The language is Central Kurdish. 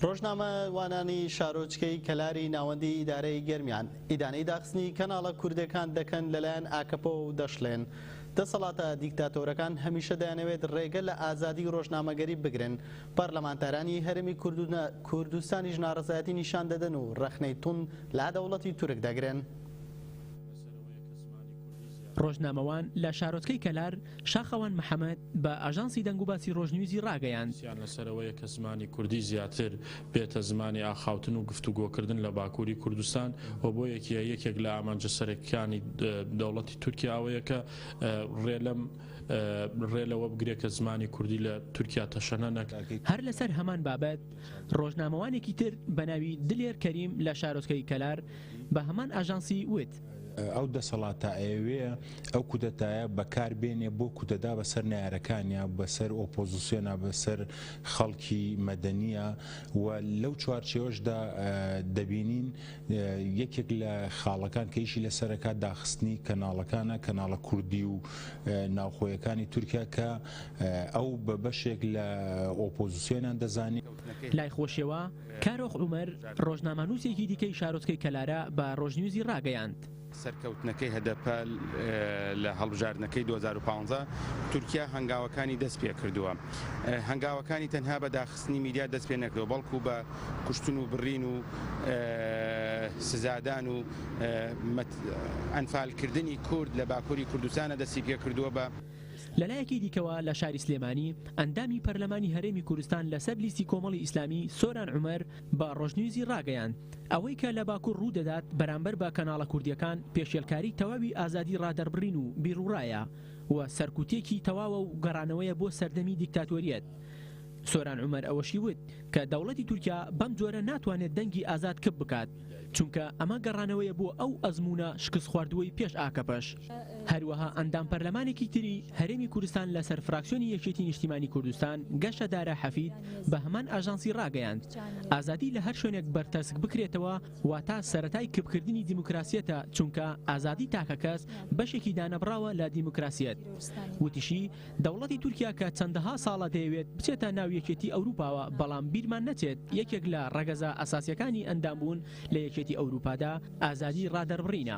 ڕۆژنامە وانانی شارۆچکەی کەلاری ناوەندی ئیدارەی گەرمیان ئیدانەی داخستنی کەناڵە کوردەکان دەکەن لەلایەن ئاکەپەوە و دەشڵێن، دەسەڵاتە دیکتاتۆرەکان هەمیشە دەیانەوێت ڕێگە لە ئازادی ڕۆژنامەگەری بگرن، پەرلەمانتارانی هەرێمی کوردستانیش ناڕەزایەتی نیشان دەدەن و ڕەخنەی توند لە دەوڵەتی تورک دەگرن. ڕۆژنامەوان لە شارۆچکەی کەلار شاخەوان محەمەد بە ئاژانسی دەنگوباسی ڕۆژنیوزی ڕاگەیاند، سیان لەسەرەوەیە کە زمانی کوردی زیاتر بێتە زمانی ئاخاوتن و گفتوگۆکردن لە باکووری کوردستان و بۆ یەکیە یەکێک لە ئامانجە سەرەکیکانی دەوڵەتی تورکیا ئەوەیە کە ڕێ لەم ڕێ لەوە بگرێت کە زمانی کوردی لە تورکیا تەشەنە نەکات. هەر لەسەر هەمان بابەت ڕۆژنامەوانێکی تر بە ناوی دلێر کەریم لە شارۆچکەی کەلار بە هەمان ئاژانسی وت. ئەو دەسەڵاتە ئەیەوێ ئەو کودەتایە بەکار بێنێ بۆ کودەتا بەسەر نەیارەکانیا، بەسەر ئۆپۆزسیۆنا، بەسەر خەڵکی مەدەنیا و لەو چوارچێوەشدا دەبینین یەکێک لە خاڵەکان کە ئیشی لەسەرەکا داخستنی کەناڵەکانە، کەناڵە کوردی و ناوخۆیەکانی تورکیا کە ئەو بە بەشێک لە ئۆپۆزسیۆنیان دەزانی. لای خۆشیەوە، کارۆخ عومەر، ڕۆژنامەنووسێکی دیکەی شارۆچکەی کەلارە بە ڕۆژنیوزی ڕاگەیاند، سەرکەوتنەکەی هەدەپە لە هەڵبژاردنەکەی دوو هەزار و پازدە تورکیا هەنگاوەکانی دەستپێکردووە، هەنگاوەکانی تەنها بە داخستنی میدیا دەستپێنەکردووە، بەڵکو بە کوشتن و بڕین و سزادان و ئەنفالکردنی کورد لە باکوری کوردستانە دەستیپێکردووە. لەلایەکی دیکەوە لە شاری سلێمانی، ئەندامی پەرلەمانی هەرێمی کوردستان لەسەر لیستی کۆمەڵی ئیسلامی سۆران عومەر بە ڕۆژنیوزی ڕاگەیاند، ئەوەی کە لە باکور ڕوودەدات بەرامبەر بە کەناڵە کوردییەکان پێشێلکاری تەواوی ئازادی ڕادەربڕین و بیروڕایە و سەرکوتێکی تەواوە و گەڕانەوەیە بۆ سەردەمی دیکتاتۆریەت. سۆران عومەر ئەوەشی وت کە دەوڵەتی تورکیا بەم جۆرە ناتوانێت دەنگی ئازاد کپ بکات. چونکە ئەمە گەڕانەوەیە بۆ ئەو ئەزموونە شکستخواردووەی پێش ئاکەپەش. هەروەها ئەندام پەرلەمانێکی تری هەرێمی کورستان لە سەر فراکسیۆنی یەکێتی نیشتیمانی کوردستان گەشە دارا حەفید بە هەمان ئاژانسی ڕاگەیاند ئازادی لە هەر شوێنێک بەرتەسک بکرێتەوە واتا سەرەتای کپکردنی دیموکراسیەتە چونکە ئازادی تاکەکەس بەشێکی دانەبڕاوە لە دیموکراسیەت وتیشی دەوڵەتی تورکیا کە چەندەها ساڵە دەیەوێت بچێتە ناو یەکێتی ئەوروپاوە بەڵام بیرمان نەچێت یەکێک لە ڕەگەزە ئەساسیەکانی ئەندامبوون لە یەکێتی ئەوروپادا ئازادی ڕادەربڕینە.